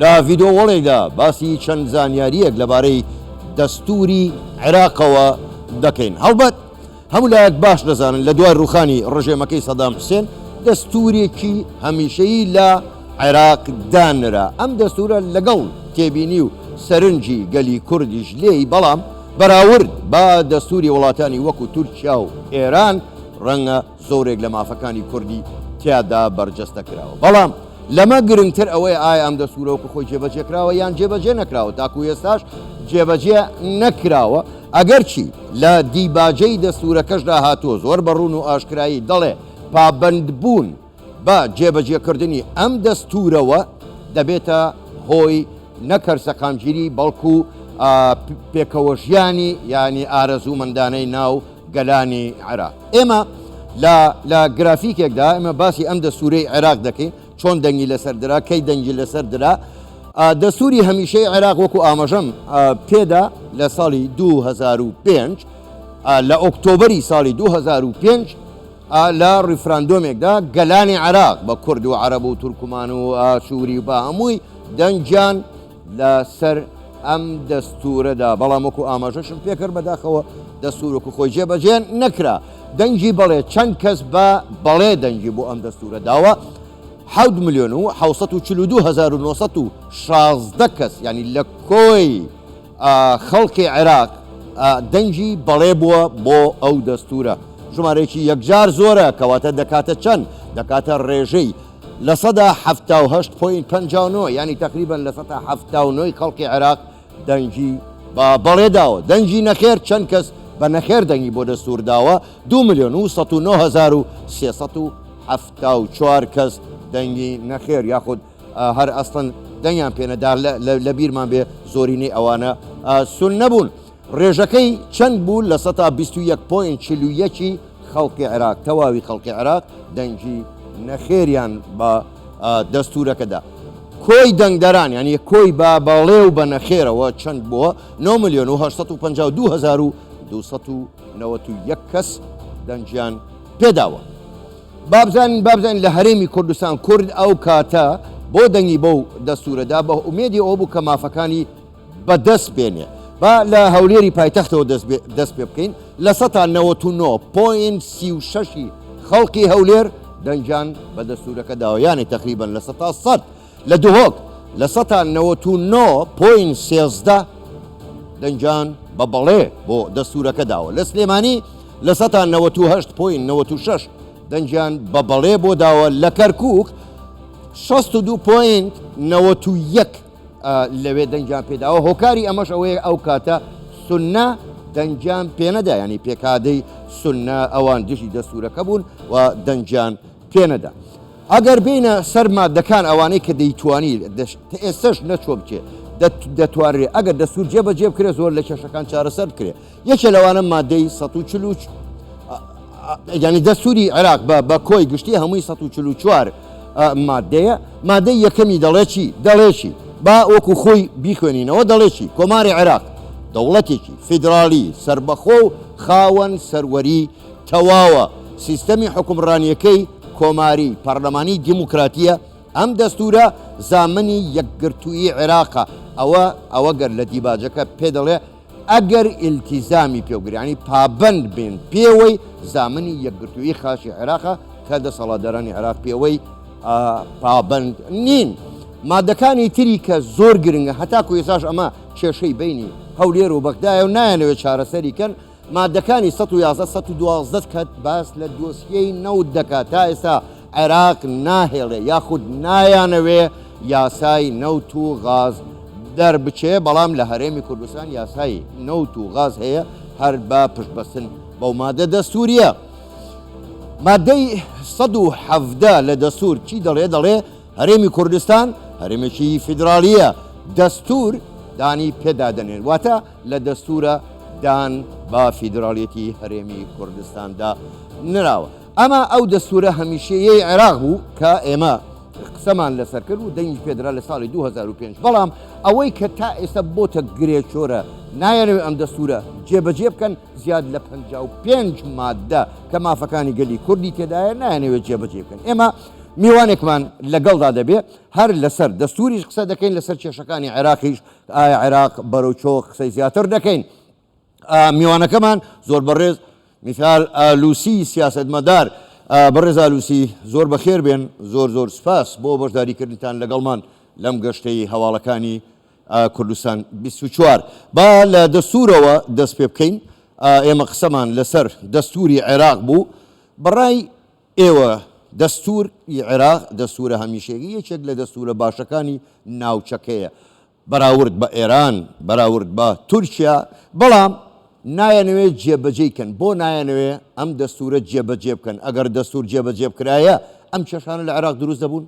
لە ڤیدۆڵێکدا باسی چەند زانیارییەک لەبارەی دەستووری عێراقەوە دەکەین. هەڵبەت هەموو لایەک باش دەزانن لە دوای ڕووخانی ڕژێمەکەی سەدام حوسێن دەستوورێکی هەمیشەیی لە عێراق دانرا. ئەم دەستوورە لەگەڵ تێبینی و سەرنجی گەلی کوردیش لێی، بەڵام بەراورد بە دەستووری وڵاتانی وەکو تورکیا و ئێران ڕەنگە، زۆرێک لە مافەکانی کوردی تیادا بەرجەستە کراوە. بەڵام لەمە گرنگتر ئەوەیە ئایا ئەم دەستوورە وەکو خۆی جێبەجێ کراوە یان جێبەجێ نەکراوە، تاکو ئێستاش جێبەجێ نەکراوە، ئەگەرچی لە دیباجەی دەستوورەکەشدا هاتووە زۆر بە ڕوون و ئاشکرایی دەڵێ پابەندبوون بە جێبەجێکردنی ئەم دەستوورەوە دەبێتە هۆی نەک هەر سەقامگیری بەڵکو پێکەوەژیانی یانی ئارەزوومەندانەی ناو گەلانی عێراق. ئێمە لە لە گرافیکێکدا ئێمە باسی ئەم دەستوورەی عێراق دەکەین، چۆن دەنگی لەسەر درا، کەی دەنگی لەسەر درا. دەستووری هەمیشەی عێراق وەکو ئاماژەم پێدا لە ساڵی 2005 لە ئۆکتۆبەری ساڵی 2005 لە ڕیفراندۆمێکدا گەلانی عێراق بە کورد و عەرەب و تورکمان و ئاشووری و بە هەمووی دەنگیان لە سەر ئەم دەستوورەدا، بەڵام وەکو ئاماژەشم پێکرد بەداخەوە دەستوور وەکو خۆی جێبەجێ نەکرا. دەنگی بەڵێ، چەند کەس بە بەڵێ دەنگی بۆ ئەم دەستوورە داوە؟ حەوت ملیۆن و حەوت سەد و چل و دوو هەزار و نۆ سەد و شازدە کەس، یانی لە کۆی خەڵکی عێراق دەنگی بەڵێ بووە بۆ ئەو دەستوورە. ژمارەیەکی یەکجار زۆرە، کەواتە دەکاتە چەند؟ دەکاتە ڕێژەی. لە سەدا حەفتا و هەشت پۆینت پەنجا و نۆ، یانی تەقریبەن لە سەتا حەفتا و نۆی خەڵکی عێراق دەنگی بە بەڵێ داوە، دەنگی نەخێر چەند کەس بە نەخێر دەنگی بۆ دەستوور داوە، دوو ملیۆن و سەد و نۆ هەزار و سێ سەد و حەفتا و چوار کەس دەنگی نەخێر یاخود هەر ئەسڵەن دەنگیان پێ نەدا، لە بیرمان بێ زۆرینەی ئەوانە سوننە بوون. ڕێژەکەی چەند بوو لە سەتا بیست و یەک پۆینت چل و یەک ی خەڵکی عێراق، تەواوی خەڵکی عێراق دەنگی نەخێریان بە دەستوورەکە دا. کۆی دەنگدەران یانی کۆی بە بەڵێ و بە نەخێرەوە چەند بووە، نۆ ملیۆن و هەشت سەد و پەنجا و دوو هەزار و دوو سەد و نەوەد و یەک کەس دەنگیان پێ داوە. با بزانین با بزانین لە هەرێمی کوردستان کورد ئەو کاتە بۆ دەنگی بەو دەستوورە دا بە ئومێدی ئەوە بوو کە مافەکانی بەدەست بێنێ با لە هەولێری پایتەختەوە دەست پێ بکەین لە سەتا نەوەت و نۆ پۆین سی و شەشی خەڵکی هەولێر دەنگیان بە دەستورەکە داوە یانێ تقریبن لە سەتا سەد لە دهۆک لە سەتا نەوەت و نۆ پۆین سێزدە دەنگیان بە بەڵێ بۆ دەستورەکە داوە لە سلێمانی لە سەتا نەوەت و هەشت پۆین نەوەت و شەش دەنگیان بە بەڵێ بۆ داوە لە کەرکک 62 پۆینت 91 لەوێ دەنگیان پێداوە، هۆکاری ئەمەش ئەوەیە ئەو کاتە سوننە دەنگیان پێنەدا، یانی پێکادەی سوننە ئەوان دژی دەستورەکە بوون و دەنگیان پێنەدا. ئەگەر بێینە سەر مادەکان ئەوانەی کە دەیتوانی تا ئێستەش نەچوە بچێ دەتوانرێ ئەگەر دەستور جێبەجێ بکرێ زۆر لە کێشەکان چارەسەر بکرێ. یەکێ لەوانە مادەی سەد و چل و یعنی دەستوری عێراق بە بە کۆی گشتی هەمووی 1940 مادەیە مادەی یەکەمی دەڵێکی دەڵێکی با وەکو خۆی بیخوێنینەوە دەڵێکی کۆماری عێراق دەوڵەتێکی فیدراالی سربەخۆ و خاوەن سەروەری تەواوە سیستەمی حکومڕانیەکەی کۆماری پەرلەمانی دیموکراتیە ئەم دەستورە زامنی یەکگرتووی عێراقە ئەوە ئەوە گەر لە دیباجەکە پێ دەڵێ ئەگەر ئیلتیزامی پێوگرین یانی پابەند بین پێوەی زامنی یەکگرتوویی خاکی عێراقە کە دەسەڵاتدارانی عێراق پێوەی پابەند نین. مادەکانی تری کە زۆر گرنگە هەتاکو ئێساش ئەمە کێشەی بینی هەولێر و بەغدایە و نایەنەوێت چارەسەری کەن مادەکانی 1111 کات باس لە دۆسیەی نەوت دەکات تا ئێستا عێراق ناهێڵێ یاخود نایانەوێ یاسای نەوت و غاز دەربچێ، بەڵام لە هەرێمی کوردستان یاسای نەوت و غاز هەیە هەر بە پشتبەستن بەو مادە دەستوورییە. مادەی سەد و حەڤدە لە دەستوور چی دەڵێ؟ دەڵێ هەرێمی کوردستان هەرێمێکی فیدراڵییە، دەستوور دانی پێدا دەنێن، واتە لە دەستوورە دان بە فیدراڵیەتی هەرێمی کوردستاندا نراوە. ئەمە ئەو دەستوورە هەمیشەیەی عێراق بوو کە ئێمە قسەمان لەسەر کرد و دەنگی پێدرا لە ساڵی 2005 بەڵام ئەوەی کە تا ئێستا بۆتە گرێچۆرە نایەنەوێت ئەم دەستوورە جێبەجێ بکەن زیاد لە 55 مادە کە مافەکانی گەلی کوردی تێدایە نایەنەوێت جێبەجێ بکەن ئێمە میوانێکمان لەگەڵدا دەبێ هەر لەسەر دەستوریش قسە دەکەین لەسەر کێشەکانی عێراقیش ئایا عێراق بەرەو چۆ قسەی زیاتر دەکەین میوانەکەمان زۆر بەڕێز میثال ئالوسی سیاسەتمەدار بەڕێز ئالوسی زۆر بەخێر بێن زۆر زۆر سپاس بۆ بەشداریکردنتان لەگەڵمان لەم گەشتەی هەواڵەکانی کوردستان 24 با لە دەستورەوە دەست پێ بکەین ئێمە قسەمان لەسەر دەستوری عێراق بوو بەڕای ئێوە دەستور عێراق دەستورە هەمیشێگی یەکێک لە دەستورە باشەکانی ناوچەکەیە بەراورد بە ئێران، بەراورد بە تورکیا، بەڵام نایەنەوێ جێبەجێی کەن، بۆ نایەنەوێ ئەم دەستورە جێبەجێ بکەن، ئەگەر دەستور جێبەجێ بکرایە ئەم کێشانە لە عێراق دروست دەبون؟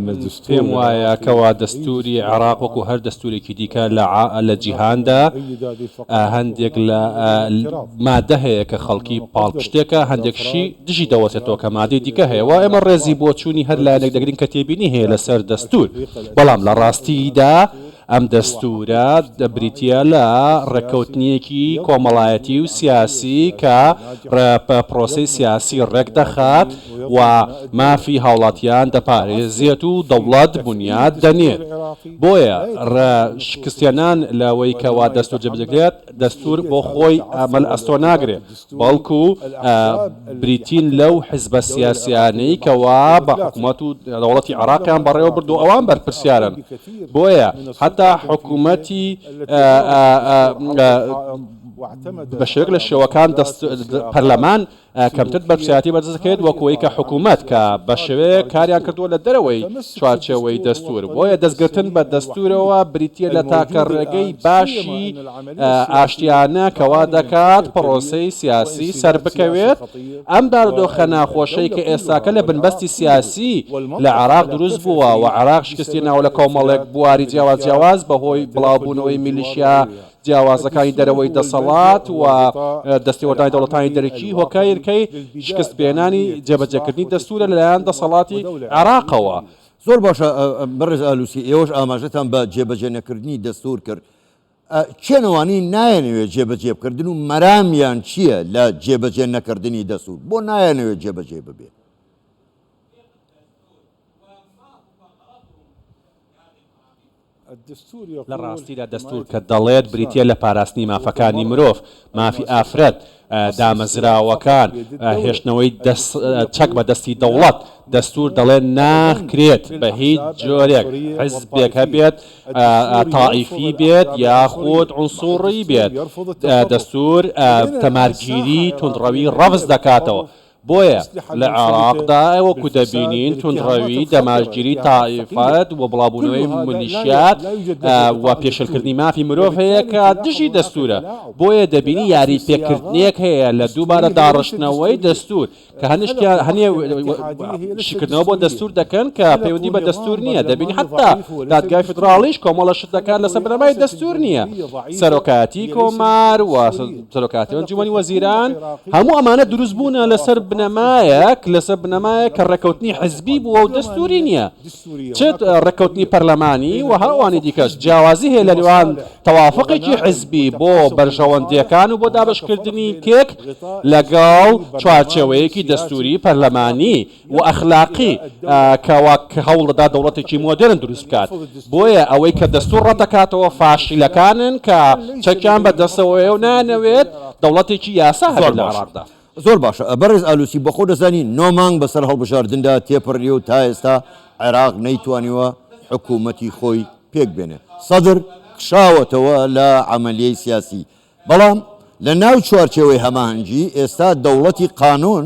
من پێم وایە کەوا دەستووری عێراق وەکو هەر دەستوورێکی دیکە لە لە جیهاندا هەندێک لە مادە هەیە کە خەڵکی پاڵپشتێکە هەندێکشی دژی دەوەسێتەوە کە مادەی دیکە هەیە وا ئێمە ڕێزی بۆچوونی هەر لایەنێک دەگرین کە تێبینی هەیە لەسەر دەستوور بەڵام لە ڕاستیدا ئەم دەستوورە بریتییە لە ڕێککەوتنێکی کۆمەڵایەتی و سیاسی کە پرۆسەی سیاسی ڕێک دەخات و مافی هاوڵاتیان دەپارێزێت و دەوڵەت بونیاد دەنێت. بۆیە شکستهێنان لەوەی کەوا دەستوور جێبەجێ دەکرێت، دەستوور بۆ خۆی ئەمە لە ئەستۆ ناگرێت. بەڵکو بریتین لەو حزبە سیاسیانەی کەوا بە حکومەت و دەوڵەتی عێراقیان بەڕێوە بردووە ئەوان بەرپرسیارن بۆیە هەتا حکومەتی بە شێوەیەک لە شێوەکان دەست پەرلەمان کەمتر بەرپرسیاتی بەرز دەکرێت وەک ئەوەی کە حکومەت کە بە شێوەیەک کاریان کردووە لە دەرەوەی چوارچێوەی دەستور بۆیە دەستگرتن بە دەستورەوە بریتیە لە تاکە ڕێگەی باشی ئاشتیانە کە وا دەکات پڕۆسەی سیاسی سەربکەوێت، ئەم بارودۆخە ناخۆشەی کە ئێستاکە لە بنبەستی سیاسی لە عێراق دروست بووە و عێراق شکستهێناوە لە کۆمەڵێک بواری جیاواز جیاواز بەهۆی بڵاوبوونەوەی میلیشیا جیاوازەکانی دەرەوەی دەسەڵات و دەستێوەردانی دەوڵەتانی دەرەکی هۆکارکەی شکستپێنانی جێبەجێکردنی دەستوورە لەلایەن دەسەڵاتی عێراقەوە. زۆر باشە بەڕێز ئالوسی، ئێوەش ئاماژەتان بە جێبەجێنەکردنی دەستوور کرد، کێن ئەوانەی نایەنەوێت جێبەجێبکردن و مەرامیان چییە لە جێبەجێ نەکردنی دەستور بۆ نایەنەوێت جێبەجێ ببێت؟ لە ڕاستیدا دەستور کە دەڵێت بریتییە لە پاراستنی مافەکانی مرۆڤ، مافی ئافرەت، دامەزراوەکان، هێشتنەوەی چەک بە دەستی دەوڵەت، دەستور دەڵێت ناکرێت بە هیچ جۆرێک حزبێک هەبێت تائیفی بێت یاخود عونسوڕی بێت، دەستور تەمارگیری توندڕەوی ڕەفز دەکاتەوە، بۆیە لە عێراقدا وەکو دەبینین توندڕەوی دەمارگیری تائیفەت و بڵاوبوونەوەی ملیشیات و پێشلکردنی مافی مرۆڤ هەیە کە دژی دەستورە بۆیە دەبینی یاری پێکردنێک هەیە لە دووبارە داڕشتنەوەی دەستور کە هەنیشتیان هەنێ شیکردنەوە بۆ دەستور دەکەن کە پەیوەندی بە دەستور نییە دەبینی حتا دادگای فدراڵیش کۆمەڵە شت دەکات لەسەر بنەمای دەستور نییە سەرۆکایەتی کۆمار و سەرۆکاتی ئەنجومەنی وەزیران هەموو ئەمانە دروست بوونە لەسەر بنەمایەک لەسەر بنەمایە کە ڕێکەوتنی حزبی بووە و دەستوری نییە چێت ڕێکەوتنی پەرلەمانی و هاوانی دیکەش جیاوازی هەیە لە نێوان تەوافقێکی حزبی بۆ بەرژەوەندیەکان و بۆ دابشکردنی کێک لەگەڵ چوارچێوەیەکی دەستوری پەرلەمانی و ئەخلاقی کە وا هەوڵ دەدات دەوڵەتێکی مۆدێرن دروست بکات. بۆیە ئەوەی کە دەستوور ڕەت دەکاتەوە فاشیلەکانن کە چەکیان بە دەستەوەیە و نایانەوێت دەوڵەتێکی یاسا هەبێت لە عێراقدا. زۆر باشە. بەڕێز ئالوسی بەخۆ دەزانی نۆ مانگ بەسەر هەڵبژاردندا تێپەڕیوە و تا ئێستا عێراق نەیتوانیوە حکوومەتی خۆی پێک بێنێ. سەدر کشاوەتەوە لە عەمەلیەی سیاسی. بەڵام لە ناو چوارچێوەی هەماهەنگی ئێستا دەوڵەتی قانوون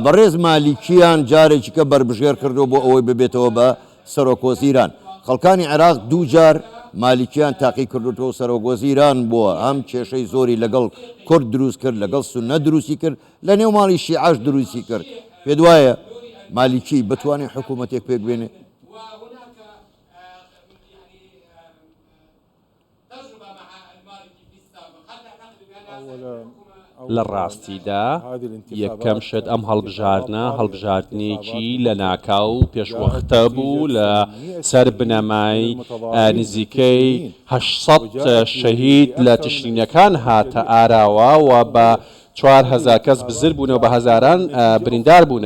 بەڕێز مالیکیان جارێکیکە بەربژێر کردووە بۆ ئەوەی ببێتەوە بە سەرۆکوەزیران. خەڵکانی عێراق دوو جار مالیکیان تاقی کردووە و سەرۆکوەزیران بووە، هەم کێشەی زۆری لەگەڵ کورد دروست کرد، لەگەڵ سوننە دروستی کرد، لە نێو ماڵی شیعەش دروستی کرد. پێت وایە مالیکی بتوانێت حکوومەتێک پێکبێنێت؟ لە ڕاستیدا یەکەم شت ئەم هەڵبژاردنە هەڵبژاردنێکی لە ناکاو و پێشوەختە بوو لە سەر بنەمای نزیکەی هەشت سەد شەهید لە تشرینەکان هاتە ئاراوە و بە چوار هەزار کەس بزر بوون و بە هەزاران بریندار بوون.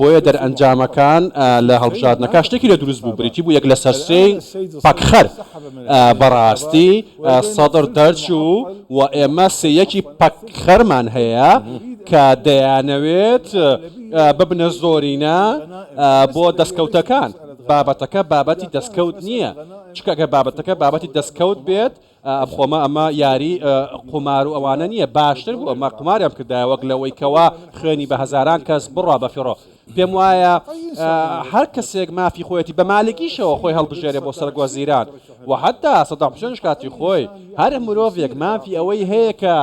بۆیە دەرئەنجامەکان لە هەڵبژاردنەکە شتێکی لە دروست بوو، بریتی بوو یەک لەسەر سێی پەکخەر بەڕاستی سەدر دەرچوو و ئێمە سێیەکی پەکخەرمان هەیە کە دەیانەوێت ببنە زۆرینە بۆ دەستکەوتەکان. بابەتەکە بابەتی دەستکەوت نییە، چونکە ئەگەر بابەتەکە بابەتی دەستکەوت بێت، خۆمە ئەمە یاری قومارو ئەوانە نیە باشتر بوو ئەمە قوماریان کردایە وەک لەوەی کەوا خوێنی بە هەزاران کەس بڕا بە فیڕۆ پێم وایە هەر کەسێک مافی خۆیەتی بە مالکیشەوە خۆی هەڵبژێرێ بۆ سەرک وەزیران وە حەتا سەدام حوسێنش کاتی خۆی هەر مرۆڤێک مافی ئەوەی هەیە کە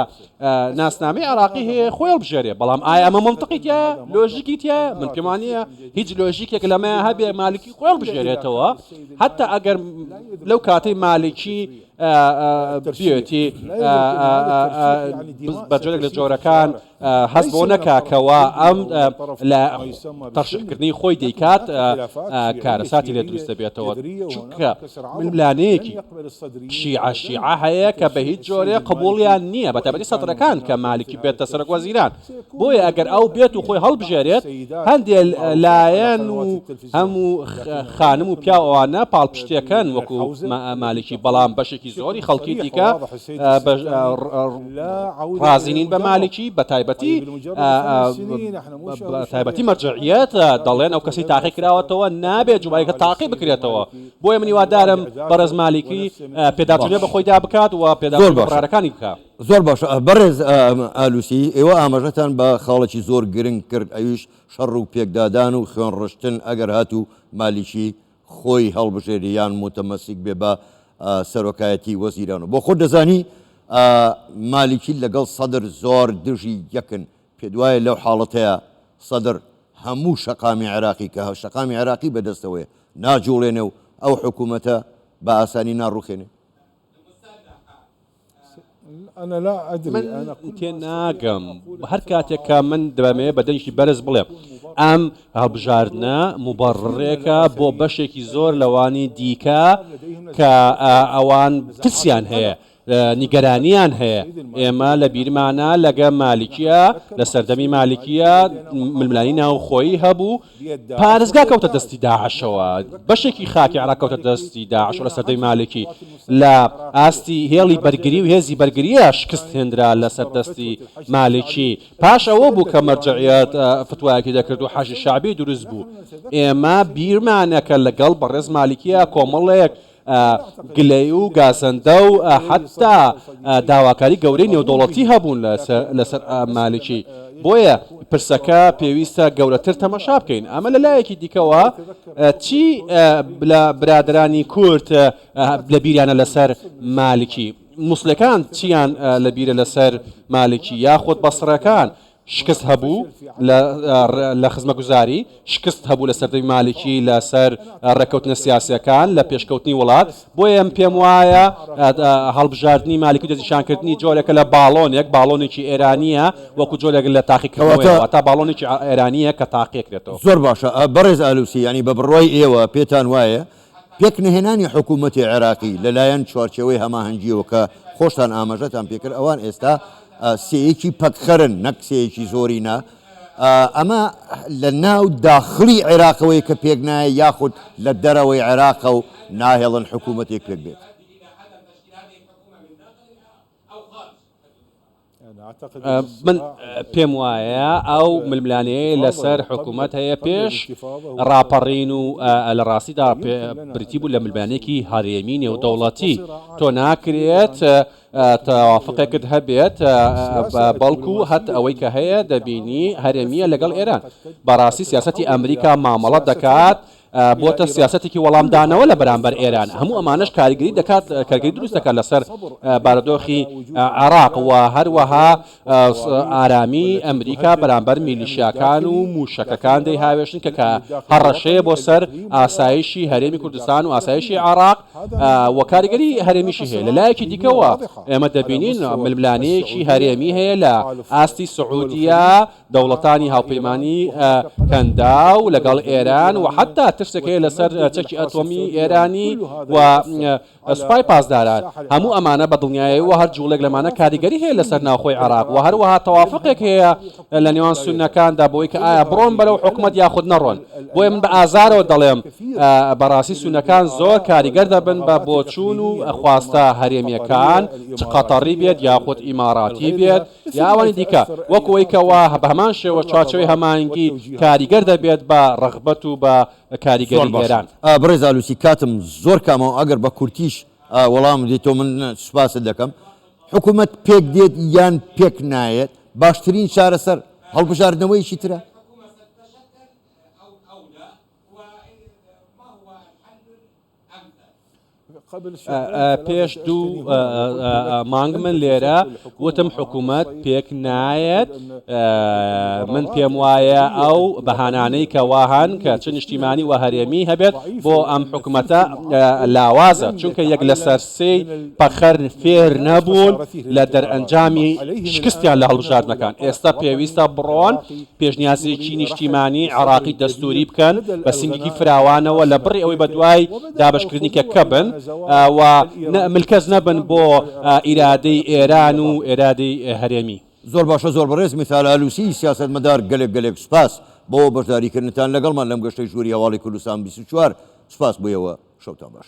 ناسنامەی عێراقی هەیە خۆی هەڵبژێرێ بەڵام ئایا ئەمە مەنتقی تیایە لۆژیکی تیایە من پێم وانییە هیچ لۆژیکێک لەمەیە هەبێ مالکی خۆی هەڵبژێرێتەوە هەتا ئەگەر لەو کاتەی مالکی بێتی بەجۆرێک لە جۆرەکان هەست بۆ نەکا کەوا ئەم لە تەشکردنی خۆی دەیکات کارەساتی لێ دروست دەبێتەوە چونکە من لانەیەکی، شیعە شیعە، هەیە کە بە هیچ جۆرێ قبوڵیان نییە بە تەبەری سەدرەکان کە مالکی بێتە سەرۆک وەزیران، بۆیە ئەگەر ئەو بێت و خۆی هەڵبژێرێت هەندێ لایەن و هەموو خانم و پیاو ئەوانە پاڵپشتیەکەن وەکو مالکی بەڵام بەشێکی زۆری خەڵکی دیکە ڕازی نین بە مالکی بە تایبەتی مەرجەعیەت دەڵێن ئەو کەسەی تاقی کراوەتەوە نابێت جومایەکە تاقی بکرێتەوە. بۆیە من هیوادارم بەڕێز مالیکی پێداچونێ بە خۆیدا بکات و پێداچونێ بە قەرارەکانی بکا. زۆر باشە بەڕێز ئالوسی، ئێوە ئاماژەتان بە خاڵێکی زۆر گرنگ کرد ئەویش شەڕ و پێکدادان و خوێنڕشتن ئەگەر هاتوو مالیکی خۆی هەڵبژێرێ یان موتەمەسیک بێ بە سەرۆکایەتی وەزیران و بۆ خۆت دەزانی مالیکی لەگەڵ سەدر زۆر دژی یەکن پێتوایە لەو حاڵەتەیا سەدر هەموو شەقامی عێراقی کە شەقامی عێراقی بەدەستەوەیە ناجوڵێنێ و ئەو حکوومەتە بە ئاسانی ناڕووخێنێ؟ من تێناگەم هەر کاتێک کە من دەمەوێت بە دەنگی بەرز بڵێم ئەم هەڵبژاردنە موبەڕڕێکە بۆ بەشێکی زۆر لەوانی دیکە کە ئەوان ترسیان هەیە نیگەرانیان هەیە ئێمە لە بیرمانە لەگە مالیکیە لە سەردەمی مالیکیە ململانی ناوخۆیی هەبوو پارێزگا کەوتە دەستی داعشەوە بەشێکی خاکی عراق کەوتە دەستی داعش لە سەردەمی مالکی لە ئاستی هێڵی بەرگری و هێزی بەرگریە شکست هێنرا لە سەردەستی مالکی پاش ئەوە بوو کە مەرجعیات فتوایەکی دەکرد و حەشی شعبی دروست بوو ئێمە بیرمانەکە لەگەڵ بەڕێز مالکیە کۆمەڵێک گلەیی و گازەندە و حەتا داواکاری گەورەی نێودەوڵەتی هەبوون لەسەر مالکی بۆیە پرسەکە پێویستە گەورەتر تەمەشا بکەین ئەمە لە لایەکی دیکەوە چی لە برادرانی کورد لە بیریانە لەسەر مالکی موسلەکان چیان لە بیرە لەسەر مالکی یاخود بەسڕەکان شکست هەبوو لە خزمەگوزاری، شکست هەبوو لە سەردەمی مالکی لە سەر ڕێککەوتنە سیاسییەکان، لە پێشکەوتنی وڵات، بۆیە من پێم وایە هەڵبژاردنی مالکی و دەستنیشانکردنی جۆرێکە لە باڵۆنێک، باڵۆنێکی ئێرانییە وەکوو جۆرێک لە تاقیکردنەوەیە، واتە باڵۆنێکی ئێرانییە کە تاقیکرێتەوە. زۆر باشە بەڕێز ئالوسی، یانی بە بڕوای ئێوە پێتان وایە پێک نەهێنانی حکوومەتی عێراقی لە لایەن چوارچێوەی هەماهەنگییەوە کە خۆشتان ئاماژەتان پێ کرد، ئەوان ئێستا سێیەکی پەکخەرن نەک سێیەکی زۆرینە، ئەمە لە ناو داخڵی عێراقەوەیە کە پێک نایە یاخود لە دەرەوەی عێراقە و ناهێڵن حکوومەتێک پێک بێت. من پێم وایە ئەو ململانەیە لەسەر حکوومەت هەیە پێش ڕاپەڕین و لە ڕاستیدا بریتی بوو لە ململانێکی هەرێمی نێودەوڵەتی تۆ ناکرێت تەوافقێکت هەبێت بەڵکو هەت ئەوەی کە هەیە دەبینی هەرێمیە لەگەڵ ئێران بەڕاستی سیاستی ئەمریکا مامەڵە دەکات بۆتە سیاسەتێکی وەڵامدانەوە لە بەرامبەر ئێران، هەموو ئەمانەش کاریگەری دەکات کارگەری دروست دەکات لەسەر بارودۆخی عێراق و هەروەها ئارامی ئەمریکا بەرامبەر میلیشیاکان و موشەکەکان دەی هاوێشن کە کە هەڕەشەیە بۆ سەر ئاسایشی هەرێمی کوردستان و ئاسایشی عێراق و کاریگەری هەرێمیشی هەیە لە لایەکی دیکەوە ئێمە دەبینین ململانەیەکی هەرێمی هەیە لە ئاستی سعودیە دەوڵەتانی هاوپەیمانیی کەنداو لەگەڵ ئێران و حەتتا ترسێک هەیە لەسەر چەکی ئەتۆمیی ئێرانی و سوپای پاسداران. هەموو ئەمانە بە دڵنیایی و هەر جووڵێک لەمانە کاریگەری هەیە لەسەر ناوخۆی عێراق و هەروەها تەوافوقێک هەیە لە نێوان سوننەکاندا بەوەی کە ئایا بڕۆن بەرەو حکومەت یاخود نەڕۆن. بۆیە من بە ئازارەوە دەڵێم بە ڕاستی سوننەکان زۆر کاریگەر دەبن بە بۆچوون و خواستە هەرێمییەکان چ قەتەڕی بێت یاخود ئیماڕاتی بێت، یاوانی دیکە وەکو ئەوەی کە وا بە هەمان شێوە چوارچێوەی هەماهەنگی کاریگەر دەبێت بە ڕەغبەت و بە کاریگەری ئێران. بەڕێز ئالوسی کاتم زۆر کامەوە ئەگەر بە کورتیش وەڵامم بدەیتەوە من سوپاست دەکەم. حکومەت پێک دێت یان پێک نایەت باشترین چارەسەر هەڵبژاردنەوەیەکی ترە. پێش دوو مانگ من لێرە وتم حکوومەت پێک نایەت من پێم وایە ئەو بەهانانەی کە واهان کە چ نیشتیمانی و هەرێمی هەبێت بۆ ئەم حکوومەتە لاوازە چونکە یەک لەسەر سێی پەخەر فێر نەبوون لە دەرئەنجامی شکستیان لە هەڵبژاردنەکان ئێستا پێویستە بڕۆن پێشنیازێکی نیشتیمانی عێراقی دەستووری بکەن بە سنگێکی فراوانەوە لە بڕی ئەوەی بەدوای دابەشکردنی کەککە بن و ملکەچ نەبن بۆ ئیرادەی ئێران و ئێرادەی هەرێمی. زۆر باشە زۆر بەڕێز میثال ئالوسی سیاسەتمەدار گەلێک گەلێک سوپاس بۆ بەشداریکردنتان لەگەڵمان لەم گەشتەی ژووری هەواڵی کوردستان بیست و چوار سوپاس بۆ ئێوە شەوتان باش.